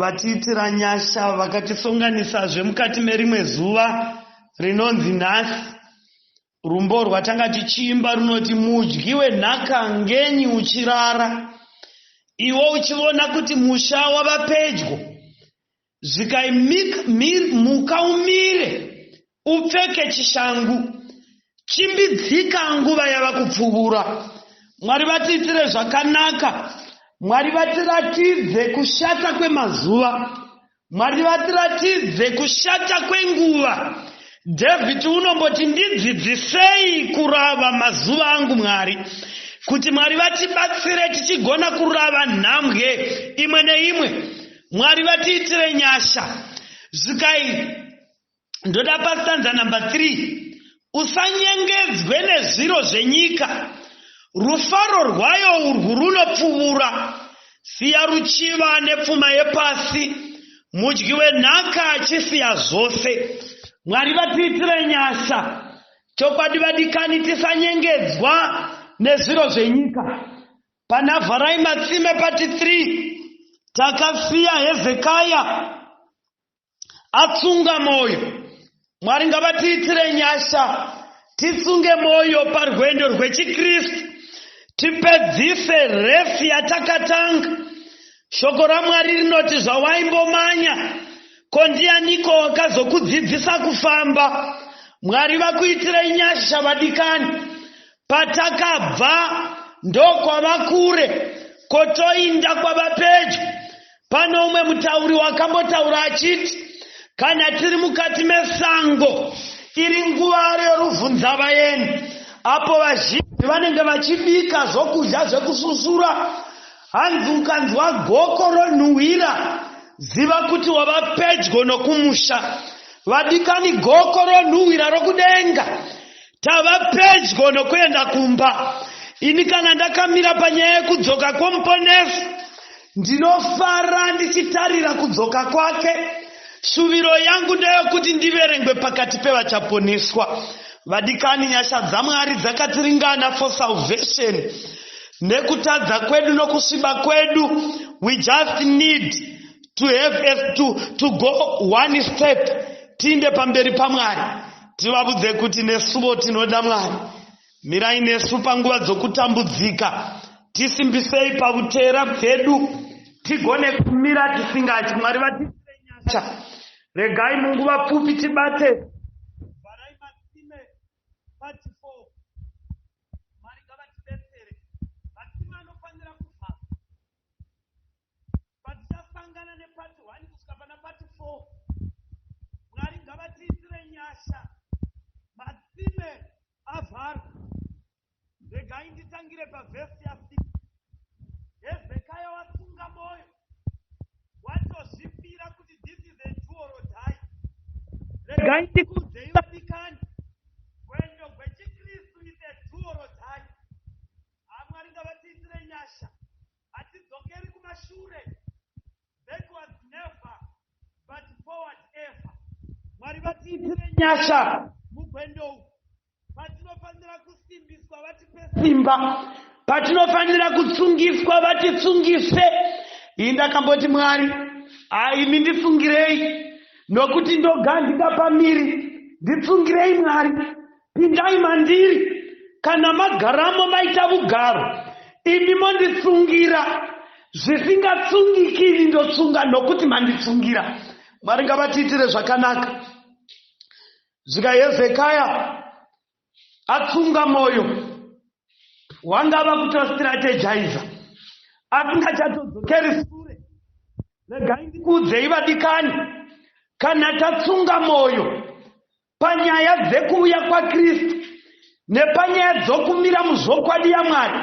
VaTiitiranyasha vakatisonganisazve mukati merimwe zuva rinonzi nhasi. Rwumbo rwatanga tichiimba runoti mudyi wenhaka ngenyi uchirara iwe uchivona kuti musha wava pedyo. Zvikai mhika umire Upfeke chishangu. Chimbidzika nguva yava kupfuvura. Mwari vatiitire zvakanaka. Mwari vatiratidze kushata kwemazuva. Mwari vatiratidze kushata kwenguva. David unomboti ndidzidzisei kurava mazuva angu Mwari kuti Mwari vatibatsire tichigona kurava nhambwe imwe neimwe. Mwari vatiitire nyasha. Zvikai ndoda pastanza number 3 usanyengedzwe nezviro zvenyika rufaro rwayo urwu runopfuvura siya ruchiva nepfuma yepasi mudyi wenhaka achisiya zvose mwari vatiitire nyasha chokwadi vadikani tisanyengedzwa nezviro zvenyika pana vharai matsime pati 3 takasiya hezekaya atsunga mwoyo mwari ngavatiitire nyasha titsunge mwoyo parwendo rwechikristu tipedzise refi yatakatanga shoko ramwari rinoti zvawaimbomanya ko ndianiko wakazokudzidzisa kufamba mwari vakuitire nyasha vadikani Patakabva ndokwava kure kotoinda kwava pedyo. Pane umwe mutauri wakambotaura achiti kana tiri mukati mesango iri nguva reruvhunzavaeni apo vazhinji vanenge vachibika zvokudya zvekususura hanzi ukanzwa goko ronhuhwira ziva kuti wava pedyo nokumusha vadikani goko ronhuhwira rokudenga Tava pedyo nokuenda kumba. Ini kana ndakamira panyaya yekudzoka kwomuponesi ndinofara ndichitarira kudzoka kwake. Shuviro yangu ndeyokuti ndiverengwe pakati pevachaponeswa. Vadikani, nyasha dzaMwari dzakatiringana for salvation. Nekutadza kwedu nokusviba kwedu, we just need to have a, to, to go one step tiinde pamberi paMwari. Tivavudze kuti nesuvo tinoda Mwari. Mirai nesu panguva dzokutambudzika. Tisimbisei pavuteera bwedu. Tigone kumira tisingatyi. Mwari vatiitire nyasha. Regai munguva pfupi tibate. Vharai matsime pati fo. Mwari ngavatibetsere. Matsime anofanira kuvharwa. Patichasangana nepati 1 kusvika pana pati 4. Mwari ngavatiitire nyasha. Matsime avharwa. Regai nditangire pavhesi ya 6. Hezekaya wasunga moyo. Watozvipira kuti this is a do or die. Regai ndikuudzei vadikani. Gwendo gwechikristu is a do or die. Haa Mwari ngavatiitire nyasha hatidzokeri kumashure backwards never but forward ever Mwari vatiitire nyasha mugwendo umu patinofanira kusimbiswa vatipe simba patinofanira kutsungiswa vatitsungise iyi ndakamboti Mwari haa imi nditsungirei nokuti ndogandika pamiri nditsungirei Mwari Pindai mandiri kana magaramo maita vugaro imi monditsungira zvisingatsungiki ini ndotsunga nokuti manditsungira mwari ngavatiitire zvakanaka zvika hezekaya atsunga mwoyo wangava kutostrategiza asingachatodzokeri sure regai ndikuudzei vadikani kana tatsunga mwoyo Panyaya dzekuuya kwaKristu nepanyaya dzokumira muzvokwadi yaMwari,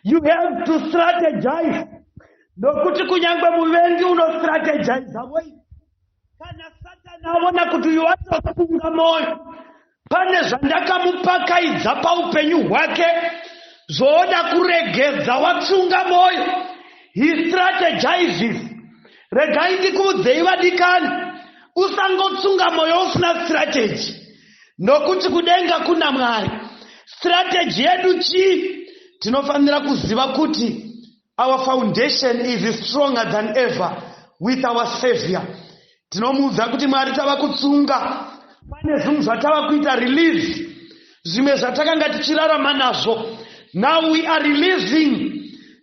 you have to strategize. Nokuti kunyange muvengi unostrategiza voi. Kana Satani aona kuti uyu atofunga moyo, pane zvandakamupakaidza paupenyu hwake zvooda kuregedza watsunga moyo. He strategizes. Regai ndikuudzei vadikani, usangotsunga moyo usina strategy nokuti kudenga kuna Mwari. Strategy yedu chii? Tinofanira kuziva kuti our foundation is stronger than ever with our Savior. Tinomuudza kuti Mwari tava kutsunga, pane zvinhu zvatava kuita release zvimwe zvatakanga tichirarama nazvo now we are releasing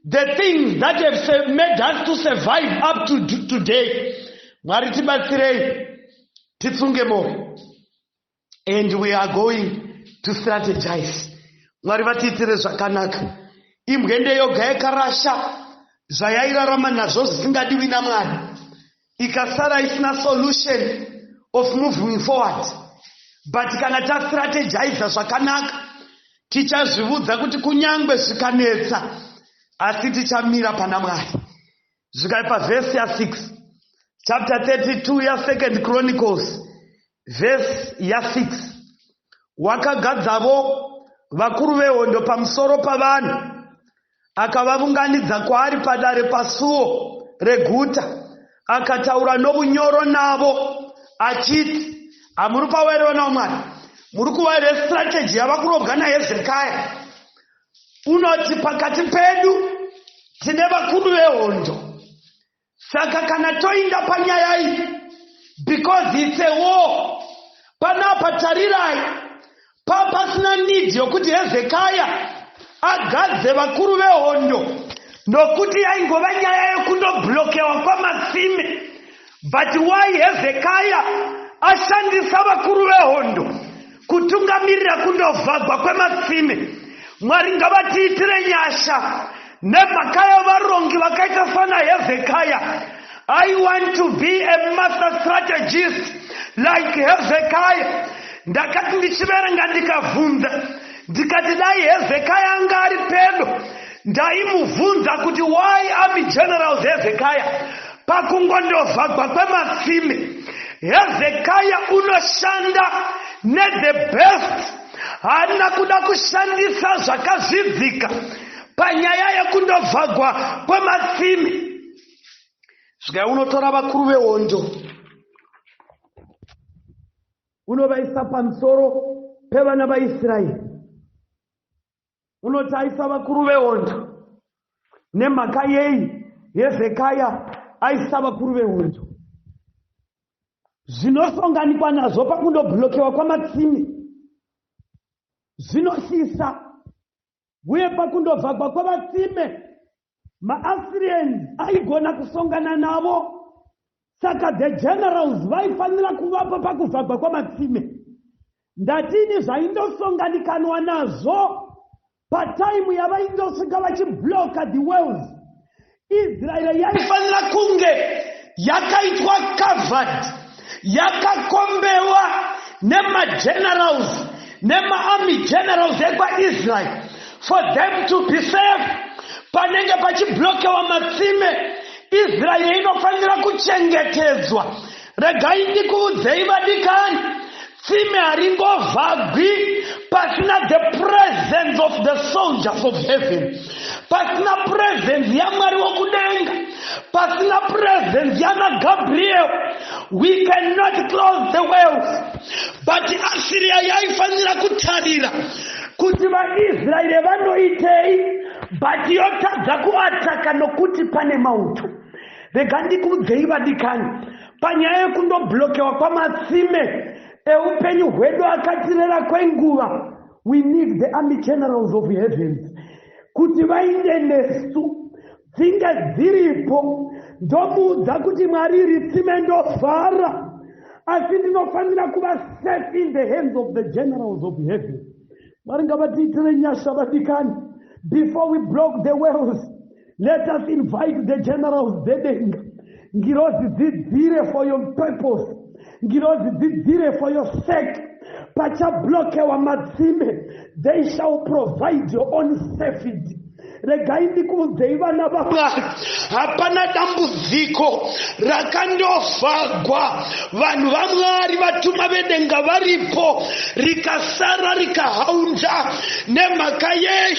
the things that have made us to survive up to today mwari tibatsirei titsunge moyo and we are going to strategize mwari vatiitire zvakanaka imbwende yoga yakarasha zvayairarama nazvo zvisingadiwi namwari ikasara isina solution of moving forward but kana tastrategiza zvakanaka tichazvivudza kuti kunyange zvikanetsa asi tichamira pana mwari zvikaipa vhesi ya6 chapter 32 yasecond chronicles vhesi ya6 wakagadzavo vakuru vehondo pamusoro pavanhu akavavunganidza kwaari padare pasuo reguta akataura novunyoro navo achiti hamuri pavaere vana vamwari muri kuvaire strategy yava kurobwa nahezekaya unoti pakati pedu tine vakuru vehondo Saka kana toinda panyaya iyi because it's a war panapa tarirai papasina need yokuti hezekaya agadze vakuru vehondo nokuti yaingova nyaya yekundoblokewa kwamasime but why hezekaya ashandisa vakuru vehondo kutungamirira kundovhagwa kwematsime mwari ngavatiitire nyasha nemhaka yavarongi vakaita sana hevhekaya i want to be a master strategist like hevhekaya ndakati ndichiverenga ndikavhunza ndikati dai hevhekaya anga ari pedo ndaimuvhunza kuti why army generals hevhekaya Pakungondovhagwa kwematsime, Hezekaya unoshanda nethe best haana kuda kushandisa zvakazvidzika panyaya yekundovhagwa kwematsime. Svika unotora vakuru vehondo unovaisa pamusoro pevana vaIsraeri. unoti aisa vakuru vehondo nemhaka yei hezekaya aisa vakuru vehondo zvinosonganikwa nazvo pakundobhulokewa kwamatsimi zvinosisa uye pakundovhagwa kwavatsime maassyrians aigona kusongana navo saka the generals vaifanira kuvapo pakuvhagwa kwamatsime ndatini zvaindosonganikanwa nazvo pataimu yavaindosvika vachibloka the wells israeri yaifanira kunge yakaitwa covered yakakombewa nemagenerals nemaarmy generals ekwaisrael for them to be safe panenge pachiblokewa matsime israeri inofanira kuchengetedzwa regai ndikuudzei vadikani Tsime haringovhagwi pasina the presence of the soldiers of heaven, pasina presence yaMwari wokudenga, pasina presence yana Gabriel. We cannot close the wells. But Assyria yaifanira kutarira kuti vaIsraeri vanoitei, but yotadza kuataka nokuti pane mauto. Rega ndikuudzei vadikani, panyaya yekundoblokewa kwamatsime eupenyu hwedu akatirera kwenguva we need the army generals of heavens kuti vainde nesu dzinge dziripo ndomuudza kuti mwari iri tsime ndofara asi ndinofanira kuva safe in the hands of the generals of heaven mwari ngavatiitire nyasha vadikani before we block the wells Let us invite the generals dzedenga. Ngirozi dzidzire for your purpose. Ngirozi dzidzire for your sake. Pachablokewa matsime. They shall provide your own safety. regai ndikuudzei vana vamwari hapana dambudziko rakandovhagwa vanhu vamwari vatuma vedenga varipo rikasara rikahaunza nemhaka yei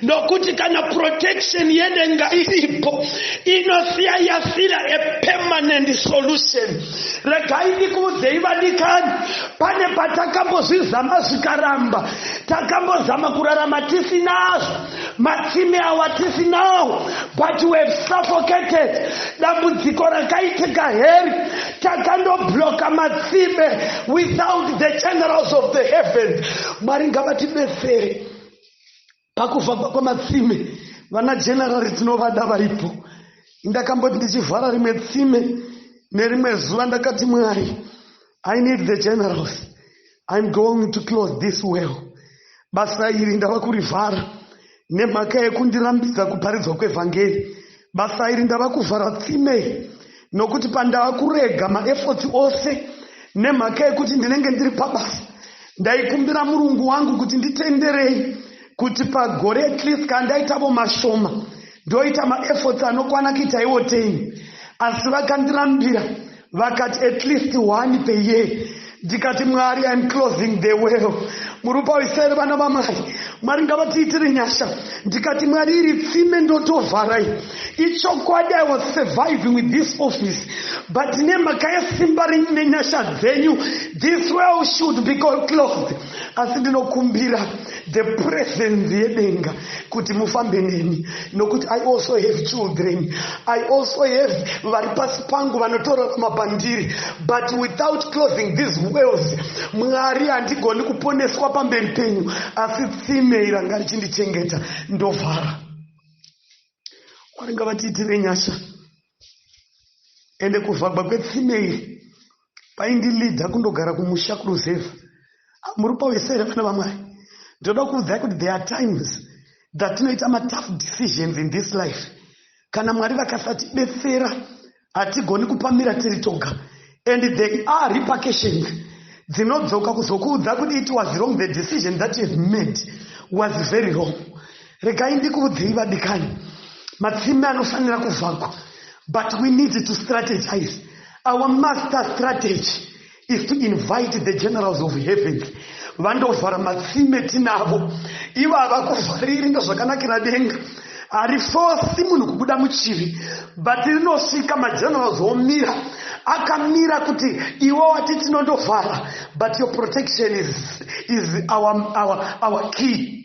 ndokuti kana protection yedenga iripo inosiya yasira a permanent solution regai ndikuudzei vadikani pane patakambozvizama zvikaramba takambozama kurarama tisinazvo matsime awa tisinawo but we have suffocated dambudziko rakaitika heri takandobloka matsime without the generals of the heavens mwari ngavatibesere pakuvakwa kwematsime vana generari tinovada varipo ndakamboti ndichivhara rimwe tsime nerimwe zuva ndakati mwari i need the generals im going to close this well basa iri ndava kurivhara nemhaka yekundirambidza kuparidzwa kwevhangeri basa iri ndava kuvhara tsime nokuti pandava kurega maefforts ose nemhaka yekuti ndinenge ndiri pabasa ndaikumbira murungu wangu kuti nditenderei kuti pagore at least kandaitavo mashoma ndoita maefforts anokwana kuita iwo teni asi vakandirambira vakati at least one per year ndikati mwari im closing the well murupa uisere vana vamai mwari ngavatiitire nyasha ndikati mwari iri tsime ndotovharai ichokwadi i was surviving with this office but nemhaka yesimba renyu nenyasha dzenyu this well should be closed asi ndinokumbira the presence yedenga kuti mufambe neni nokuti i also have children i also have vari pasi pangu vanotorarama pandiri but without closing these wells mwari handigoni kuponeswa pamberi penyu asi tsime iranga richindichengeta ndovhara mwari ngavatiitire nyasha ende kuvhagwa kwetsime iri vaindilidha kundogara kumusha kuruzevha ah, muri pawese here vana vamwari ndinoda kuudzai kuti there are times dhatinoita matough decisions in this life kana mwari vakasatibetsera hatigoni kupamira tiri toga and they are repercussions dzinodzoka kuzokuudza kuti it was wrong the decision that you've made was very wrong Regai ndikuudzei vadikani, matsime anofanira kuvhagwa but we need to strategize. Our master strategy is to invite the generals of heavens vandovhara matsime tinavo ivo havakuvhariri ndozvakanakira denga harifosi munhu kubuda muchivi but rinosvika magenerals omira akamira kuti iwe wati tinondovhara but your protection is, is our, our, our key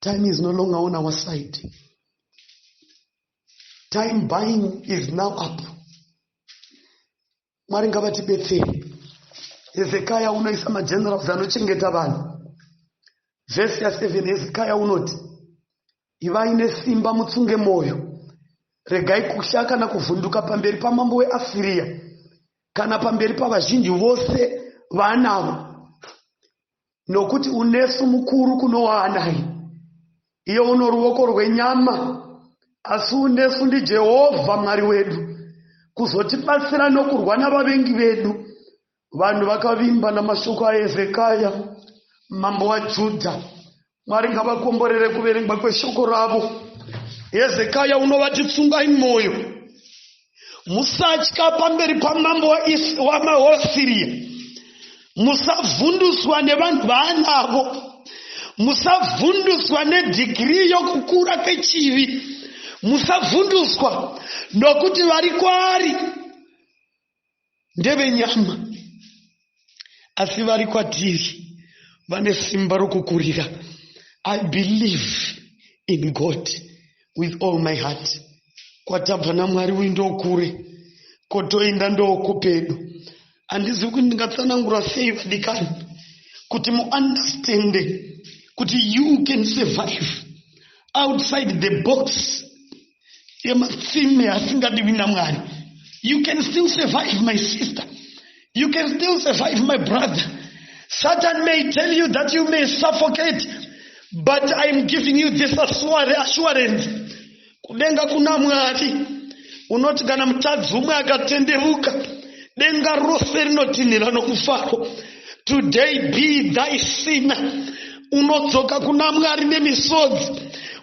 Time is no longer on our side. Time buying is now up. Mwari ngavatibetsere. Hezekiah unoisa magenerals anochengeta vanhu. Verse ya 7 Hezekiah unoti ivai nesimba mutsunge mwoyo regai kutya kana kuvhunduka pamberi pamambo weasiriya kana pamberi pavazhinji vose vaanavo nokuti unesu mukuru kuno waanai, iye uno ruoko rwenyama, asi unesu ndiJehovha Mwari wedu, kuzotibatsira nokurwa navavengi vedu. Vanhu vakavimba namashoko aHezekaya mambo waJudha. Mwari ngavakomborere kuverengwa kweshoko ravo. Hezekaya unovati tsungai mwoyo. musatya pamberi pamambo wamaosiriya musavhunduswa nevanhu vaanavo musavhunduswa nedhigirii yokukura kwechivi musavhunduswa nokuti vari kwaari ndevenyama asi vari kwatiri vane simba rokukurira i believe in god with all my heart kwatabva namwari uyu ndokure kotoenda ndokupedu handizivi kuti ndingatsanangura sei vadikani kuti muunderstande kuti you can survive outside the box yematsime asingadiwi namwari you can still survive my sister you can still survive my brother satan may tell you that you may suffocate but iam giving you this assurance kudenga kuna mwari unoti kana mutadzi umwe akatenderuka denga rose rinotinhira nokufaro today be thy sinner unodzoka kuna mwari nemisodzi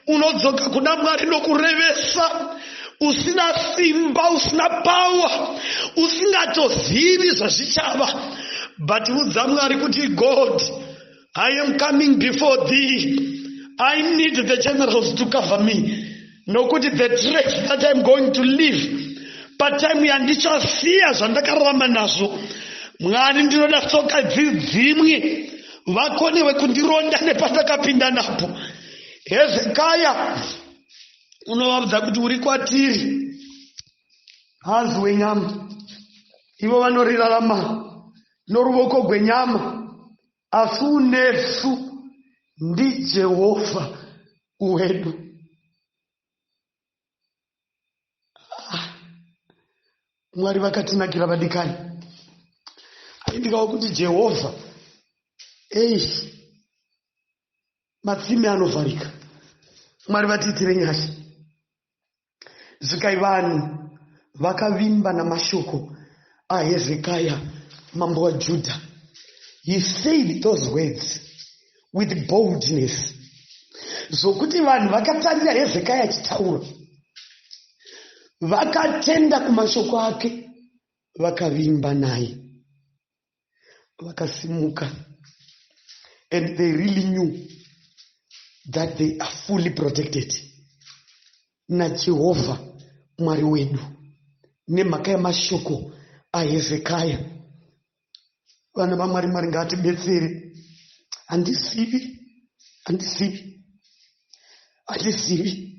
unodzoka kuna mwari nokurevesa usina simba usina pawa usingatozivi zvazvichava but udza mwari kuti god i am coming before thee i need the generals to cover me nokuti the track that I'm going to live pataimu yandichasiya zvandakararama nazvo mwari ndinoda tsoka dzidzimwe vakonewe kundironda nepandakapinda napo hezekaya unovabudza kuti uri kwatiri hanzi wenyama ivo vanoriraramana noruvoko gwenyama Asi unesu ndiJehovha wedu. Ah, Mwari vakatinakira vadikani. Aindikawo kuti Jehovha, eish, matsime anovharika. Mwari vatiitire nyasha. Zikai vanhu vakavimba namashoko aHezekaya mambo waJudha. He said those words with boldness zvokuti vanhu vakatarira Hezekaya achitaura vakatenda kumashoko ake vakavimba naye. vakasimuka and they really knew that they are fully protected najehovha mwari wedu nemhaka yemashoko ahezekaya vana vamwari mwari ngaatibetsere handizivi handizivi handizivi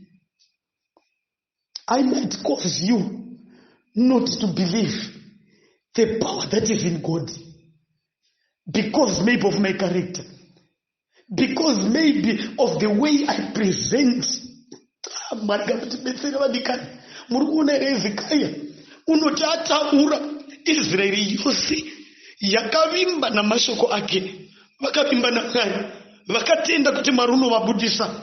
I might cause you not to believe the power that is in God because maybe of my character, because maybe of the way I present. Ah, Mwari ngamutibetsere vadikani. Muri kuona here Hezekiah unoti ataura Israeri yose yakavimba namashoko ake, vakavimba naMwari, vakatenda kuti Mwari unovabudisa.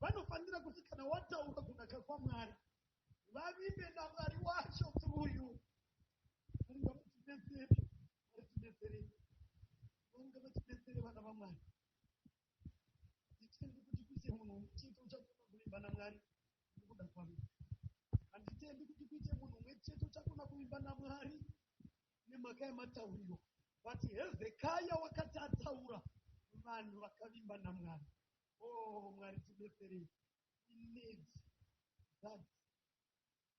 vanofanira kuti kana wataura kunaka kwaMwari vavimbe naMwari wacho through you. Mwari ngavachibetsere, Mwari tibetsere, Mwari ngavachibetsere vana vaMwari. Nditendi kuti kuite munhu umwe chete uchakona kuvimba naMwari nekuda kwavo. Handitendi kuti kuite munhu umwe chete uchakona kuvimba naMwari nemhaka yematauriro. But Hezekaya wakati ataura vanhu vakavimba naMwari. Oh Mwari tibetserei we need that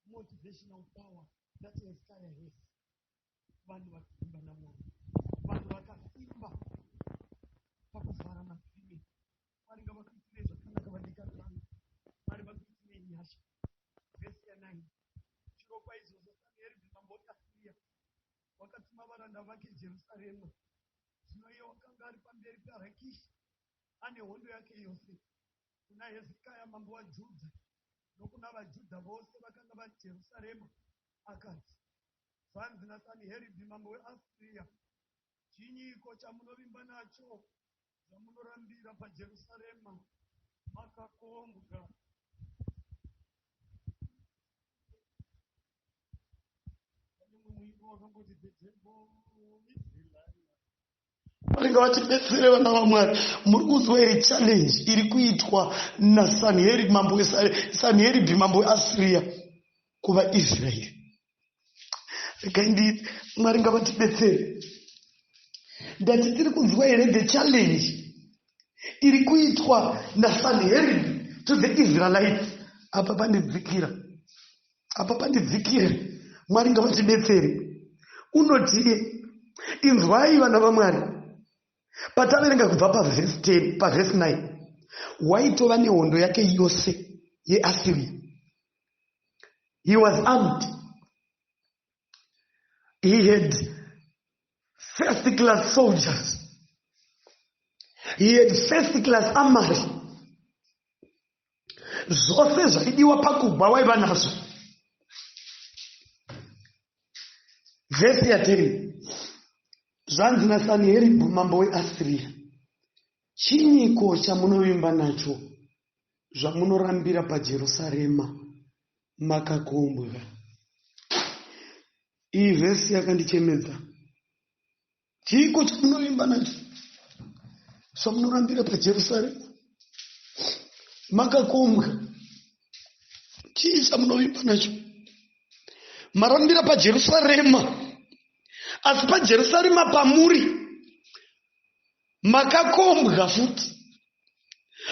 motivational power that Hezekiah has. Vanhu vakaimba naMwari, vanhu vakasimba pakuvhara madzime. Mwari ngavakuitirei zvakanaka vadikani vangu, Mwari vakuitirei nyasha. Vhesi yanai chirokwa izvozvo Samiheribhi mambo weAsiria wakatuma varanda vake Jerusarema. Zvino iye wakanga ari pamberi paRakishi ane hondo yake yose kuna Hezekaya mambo waJudha nokuna vaJudha vose vakanga vari Jerusarema, akati, Zvanzi naSaniheribhi mambo weAsiria, Chinyiko chamunovimba nacho zvamunorambira paJerusarema makakombwa? Pane mumwe muimbi wakamboti, The temple is the liar. Mwari ngavatibetsere vana vaMwari. Muri kunzwa here challenge iri kuitwa naSanherib mambo Sanherib mambo weAsiria kuvaIsraeri? Regai ndi Mwari ngavatibetsere. Ndati tiri kunzwa here the challenge iri kuitwa naSanherib to the Israelites apa pane dzikira apa pandidzikire mwari ngavatibetsere unotie inzwai vana vamwari pataverenga kubva pavhesi 10 pavhesi 9 waitova nehondo yake yose yeasiria he was armed he had first class soldiers he had first class amary zvose zvaidiwa pakugwa waiva nazvo vhesi yateri zvanzi nasanheribhu mambo weasiriya chinyiko chamunovimba nacho zvamunorambira pajerusarema makakombwa iyi vhesi yakandichemedza chiiko chamunovimba nacho zvamunorambira pajerusarema makakombwa chii chamunovimba nacho marambira pajerusarema asi pajerusarema pamuri makakombwa futi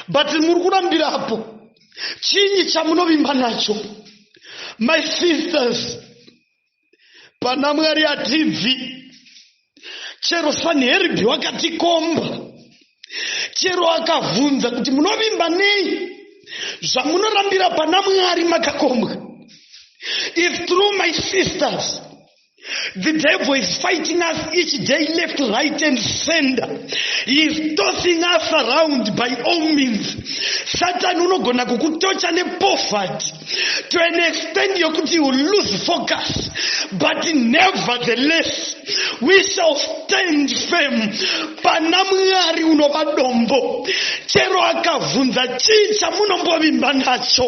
but muri kurambira apo chinyi chamunovimba nacho my sisters pana mwari hatibvi chero sanheribhi wakatikomba chero akavhunza kuti munovimba nei zvamunorambira pana mwari makakombwa if through my sisters The devil is fighting us each day, left, right, and center. He is tossing us around by all means. Satan unogona kukutocha nepoverty to an extent yokuti you lose focus. But nevertheless, we shall stand firm pana mwari unova dombo chero akavhunza chii chamunombovimba nacho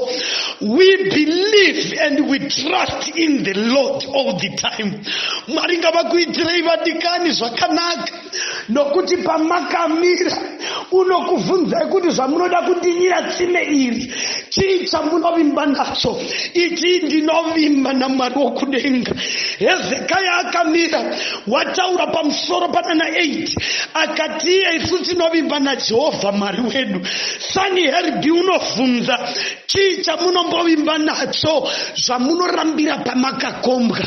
we believe and we trust in the lord all the time mwari ngavakuitirei vadikani zvakanaka nokuti pamakamira unokuvhunzai kuti zvamunoda kundinyira tsime iri chii chamunovimba nacho itii ndinovimba namwari wokudenga hezekaya akamira wataura pamusoro panana 8 akatiye isu tinovimba najehovha mwari wedu sani herbi unovhunza Chii chamunombovimba nacho zvamunorambira pamakakombwa?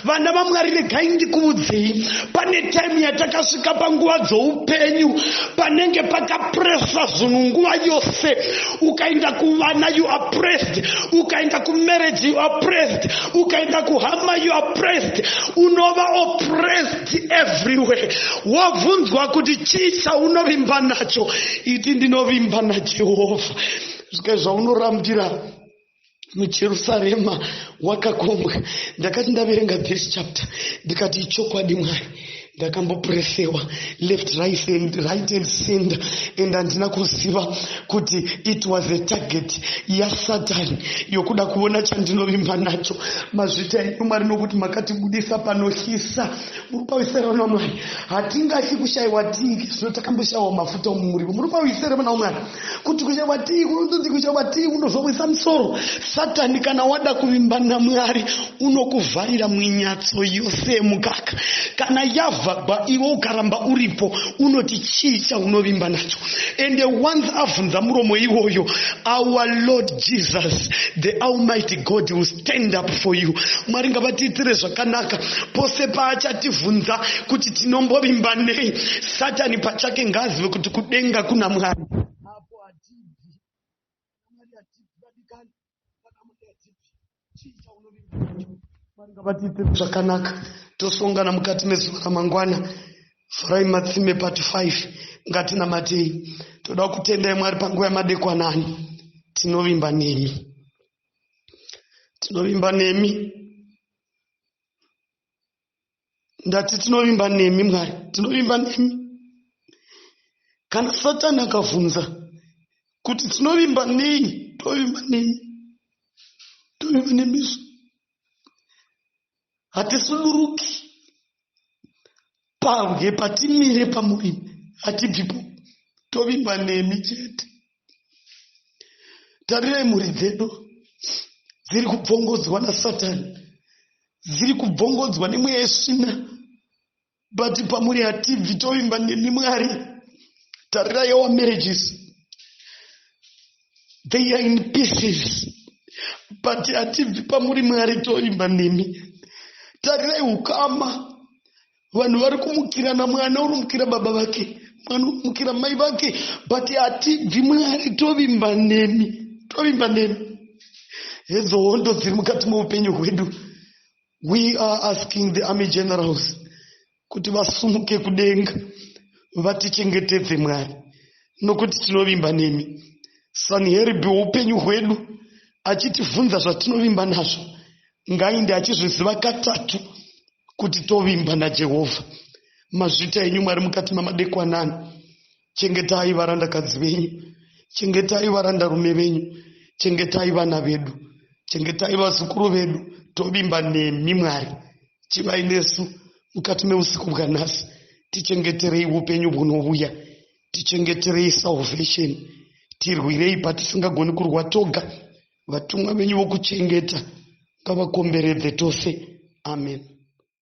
Vana vaMwari, regai ndikuudzei, pane taimu yatakasvika panguva dzoupenyu panenge pakapresa zvinhu nguva yose. Ukaenda kuvana you are pressed, ukaenda kumarriage you are pressed, ukaenda kuhama you are pressed, unova oppressed everywhere. Wobvunzwa kuti chii chaunovimba nacho? Iti ndinovimba naJehovha. zvikai zvaunorambira mujerusarema wakakombwa ndakati ndaverenga this chapter ndikati ichokwadi mwari ndakambopuresewa left right and right and center and handina kuziva kuti it was a target yasatan yokuda kuona chandinovimba nacho mazvita enyu mwari nokuti makatibudisa panohisa muri pawisera na mwari hatingafi kushayiwa tingi zvino takamboshayiwa mafuta omumurivo muri pawisera na mwari kuti kuchekwa tii kunonzi kuchekwa tii kunozomwisa musoro satani kana wada kuvimba namwari unokuvharira mwinyatso yose yemukaka kana yavhagwa iwe ukaramba uripo unoti chii chaunovimba nacho ende once avhunza muromo iwoyo our lord jesus the almighty god will stand up for you mwari ngavatiitire zvakanaka pose paachativhunza kuti tinombovimba nei satani pachake ngaazive kuti kudenga kuna mwari apo hatibvi mwari hatibvi vadikani kana mwari hatibvi chii chaunovinga mwari ngavatiite zvakanaka tosongana mukati mezuva ramangwana farai matsime part 5 ngatinamatei toda kutendai mwari panguva yamadekwanani tinovimba nemi tinovimba nemi ndati tinovimba nemi mwari tinovimba nemi kana satani akavhunza kuti tinovimba nei tovimba nemi tovimba nemisu hatisuduruki pabwe patimire pamuvimbi hatibvipo tovimba nemi chete Tarirai mhuri dzedu dziri kubvongodzwa nasatani dziri kubvongodzwa nemweya yesvina but pamuri hatibvi tovimba nemi mwari tarirai our marriages they are in pieces but hatibvi pamuri mwari tovimba nemi tarirai ukama vanhu vari kumukirana mwana unomukira baba vake mwana unomukira mai vake but hatibvi mwari tovimba nemi tovimba nemi hedzo hondo dziri mukati meupenyu hwedu we are asking the army generals kuti vasumuke kudenga vatichengetedze mwari nokuti tinovimba nemi sanheribhi weupenyu hwedu achitivhunza zvatinovimba nazvo ngainde achizviziva katatu kuti tovimba najehovha mazvita enyu mwari mukati mamadekwanani chengetai varandakadzi venyu chengetai varandarume venyu chengetai vana vedu chengetai vazukuru vedu tovimba nemi mwari chivai nesu mukati meusiku bwanhasi tichengeterei upenyu bwunovuya tichengeterei salvation tirwirei patisingagoni kurwa toga Vatumwa venyu vokuchengeta ngavakomberedze tose. Amen.